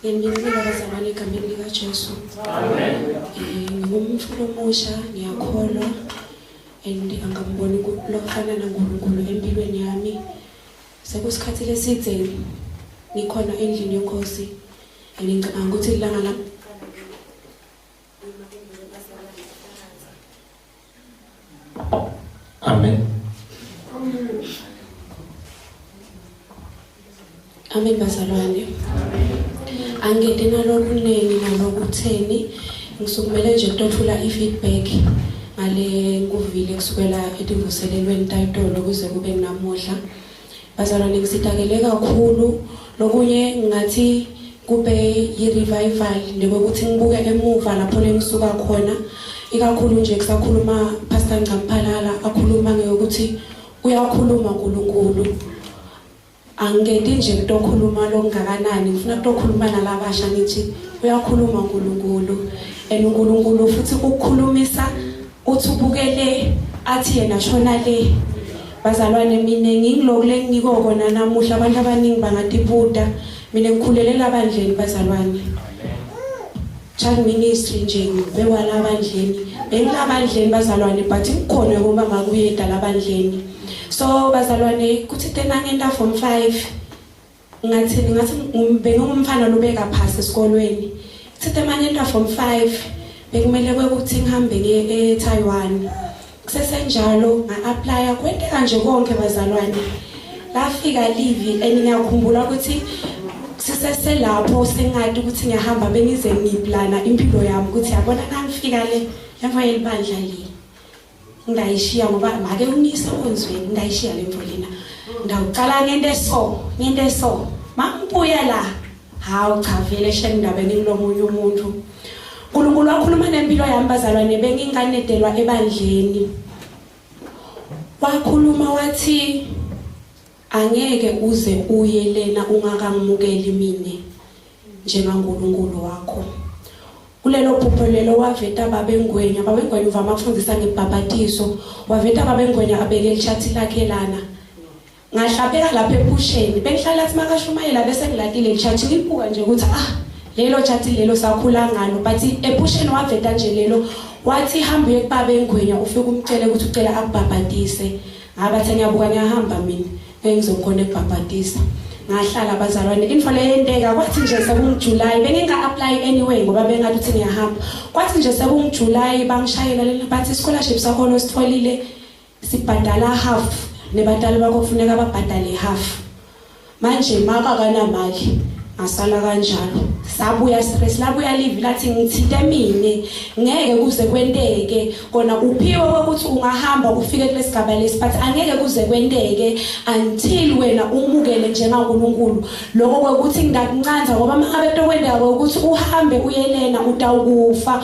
Ngiyanicela bazalwane egameni likaJesu. Amen. Eh, Ngingumfuna omusha, ngiyakholwa and angamboni ku- lokufana naNkulunkulu empilweni yami. Sekusikhathi lesidze ngikhona endlini yenkosi and ngicabanga ukuthi ilanga lami Amen. Amen bazalwane. Angede nalokhu nini nalokhu theni ngisukumele nje kutothula i-feedback ngale kuvile kusukela ekuvuselelweni tayitolo kuze kube namuhla Bazalwane ngisitakele kakhulu lokunye ngathi kube yi-revival nebokuthi ngibuke emuva lapho lengisuka khona ikakhulu nje kusakhuluma Pastor Ncamphalala akhuluma ngeyokuthi uyakhuluma uNkulunkulu angikenti nje kutokhuluma longakanani ngifuna kutokhuluma nalabasha ngithi uyakhuluma uNkulunkulu and uNkulunkulu futhi ukukhulumisa uthi ubuke le athi yena shona le bazalwane mina ngingiloko lengiko kona namuhla abantu abaningi bangatiputa mina ngikhulelela abandleni bazalwane child ministry nje ngibewala abandleni bengilabandleni bazalwane but ngikhona ngoba ngakuyeda labandleni so bazalwane kuthi tena ngenda form 5 ngathini ngathi bengingumfana lubeka phasi esikolweni sithe manje into form 5 bekumele kwekuthi ngihambe ngiye eTaiwan kusesenjalo nga-aplya kwenteka nje konke bazalwane lafika livi and ngiyakhumbula ukuthi siseselapho sengati ukuthi ngiyahamba bengize ngiplana impilo yami ukuthi yabona nangifika le yamva yelibandla le ngayishiya ngoba make unisa onzweni ngayishiya le mfo lena ngawuqala ngento eso ngento eso mambuya la hawu cha vele shela indaba engilomunye umuntu uNkulunkulu wakhuluma nempilo yami bazalwane benginganedelwa ebandleni wakhuluma wathi Angeke uze uye lena ungakamukeli mina njengaNkulunkulu wakho. Kulelo phupho lelo waveta babengwenya, babengwenya uvama kufundisa ngebhabhatizo. Waveta babengwenya abeke ichathi lakhe lana. Ngahlabeka lapha ephusheni, bengihlala athi makashumayela bese ngilatile ichathi ngibuka nje ukuthi ah lelo chathi lelo sakhula ngalo but ephusheni waveta nje lelo wathi hamba uye kubabengwenya ufike umcele ukuthi ucela akubhabhatise. ngabathe ngiyabuka ngiyahamba mina engizokhona ekubhabhatisa ngahlala abazalwane info leyenteka kwathi nje sekungujuly benginga-apply anyway ngoba bengathi uthi ngiyahamba kwathi nje sekungujuly bangishayela lena bathi scholarship sakhona ositholile sibhadala half nebadala bakho kufuneka babhadale half manje maka akanamali ngasala kanjalo sabuya stress labuya live lathi ngithinte mina ngeke kuze kwenteke kona uphiwe ukuthi ungahamba ufike kulesigaba lesi but angeke kuze kwenteke until wena umukele njengaNkulunkulu lokho kwekuthi ngidakuncanza ngoba mangabe tokwendeka ukuthi uhambe uyenena utawukufa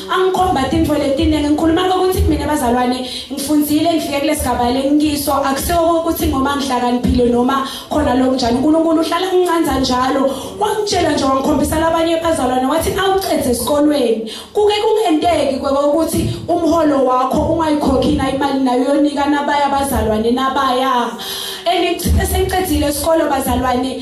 angikhomba tintfo letiningi ngikhuluma kokuthi mina bazalwane ngifundzile ngifike kulesigaba lengiso akusiwo ukuthi ngoba ngihlakaniphile noma khona lokunjani uNkulunkulu uhlala ngincanza njalo wangitshela nje wangikhombisa labanye bazalwane wathi awucedze esikolweni kuke kungenteki kwekokuthi umholo wakho ungayikhokhi na imali nayo yonika nabaya bazalwane nabaya and sengiqedile isikolo bazalwane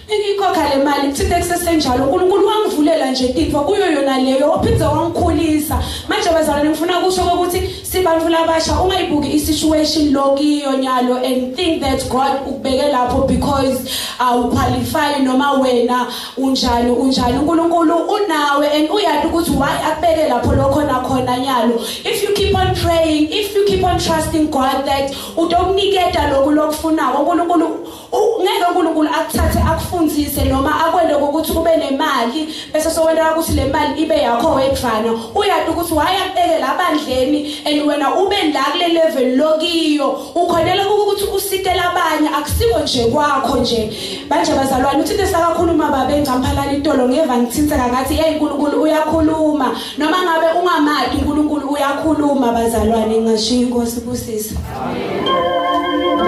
Ngiyikhokha le mali kuthinte kusesenjalo uNkulunkulu wangivulela nje tintfo kuyo yona leyo waphinde wangikhulisa manje bazalwane ngifuna kusho ukuthi sibantu labasha ungayibuki isituation lokiyo nyalo and think that God ukubeke lapho because awuqualify noma wena unjani unjani uNkulunkulu unawe and uyazi ukuthi why akubeke lapho lokho nakhona nyalo if you keep on praying if you keep on trusting God that utokuniketa lokhu lokufunayo uNkulunkulu ngeke uNkulunkulu akuthathe akufundise noma akwende ukuthi ube nemali bese sokwenda ukuthi le mali ibe yakho wedvana uyati ukuthi wayakubekela abandleni and wena ube la kule level lokiyo ukhonela ukuthi usitele abanye akusiko nje kwakho nje manje bazalwane uthi lesakakhuluma babe ngcamphalana itolo ngeva ngithintseka ngathi hey uNkulunkulu uyakhuluma noma ngabe ungamadi uNkulunkulu uyakhuluma bazalwane ngashiya inkosi kusisa amen